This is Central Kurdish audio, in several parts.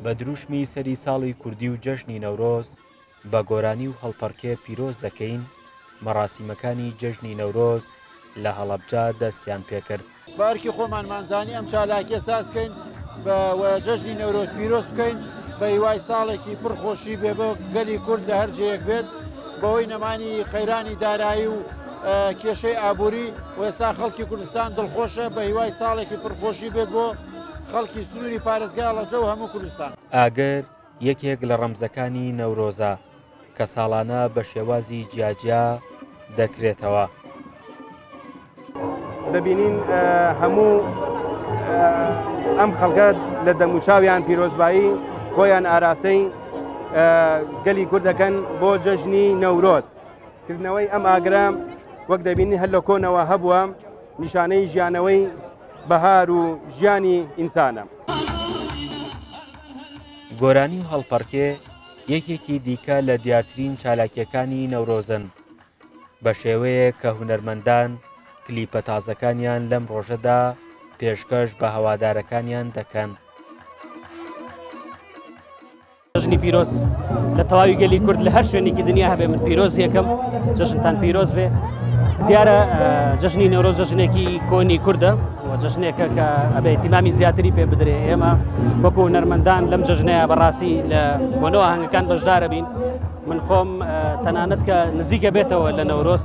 بە دروشمی سەری ساڵی کوردی و جەژنی نەورۆز بە گۆرانی و هەڵپەڕکێ پیرۆز دەکەین مەڕاسیمەکانی جەژنی نەورۆز لە هەڵەبجا دەستیان پێکرد بارکی خۆمانمانزانی ئەم چالاکیە سازکەین بە جەژنی نەورۆز پیرۆز بکەین بە هیوای ساڵێکی پرخۆشی بێ بۆ گەلی کورد لە هەرجەیەک بێت بەوەی نەمانی قەیرانی دارایی و کێشەی ئابووری و ئێستا خەڵکی کوردستان دڵخۆشە بە هیوای ساڵێکی پڕخۆشی بێت بۆ خەڵکی سنووری پارێزگای هەڵەبجە و هەموو کوردستان. ئاگر یەکێک لە ڕەمزەکانی نەورۆزە کە ساڵانە بە شێوازی جیاجیا دەکرێتەوە. دەبینین هەموو ئەم خەڵکە لە دەموچاویان پیرۆزبایی خۆیان ئاراستەی گەلی کوردەکەن بۆ جەژنی نەورۆز. کردنەوەی ئەم ئاگرە وەک دەبینی هەر لە کۆنەوە هەبووە نیشانەی ژیانەوەی بەهار و ژیانی ئینسانە. گۆرانی و هەڵپەڕکێ یەکێکی دیکە لە دیارترین چالاکیەکانی نەورۆزن بە شێوەیە کە هونەرمەندان کلیپە تازەکانیان لەم ڕۆژەدا پێشکەش بە هەوادارەکانیان دەکەن. جەژنی پیرۆز لە تەواوی گەلی کورد لە هەر شوێنێکی دنیا هەبێ من پیرۆز یەکەم جەژنتان پیرۆز بێ دیارە جەژنی نەورۆ جەژنێکی کۆنی کووردە جەژنێکە کە ئەبێ تیمامی زیاتری پێ بدرێ ئێمە وەکو نەرمەندان لەم جەژنەیە بەڕاستی لە بۆنەوە هەنگەکان بەشدارە بین من خۆم تەنانەت کە نزیکە بێتەوە لە نەورۆز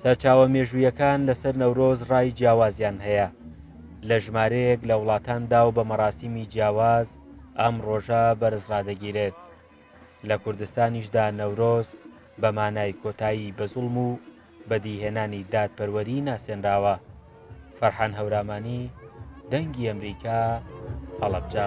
سەرچاوە مێژوویەکان لەسەر نەورۆز ڕای جیاوازیان هەیە، لە ژمارەیەک لە وڵاتاندا و بە مەراسیمی جیاواز ئەم ڕۆژە بەرز ڕادەگیرێت، لە کوردستانیشدا نەورۆز بە مانای کۆتایی بە زوڵم و بەدیهێنانی دادپەروەری ناسێنراوە. فەرحان هەورامانی، دەنگی ئەمریکا، هەڵەبجە.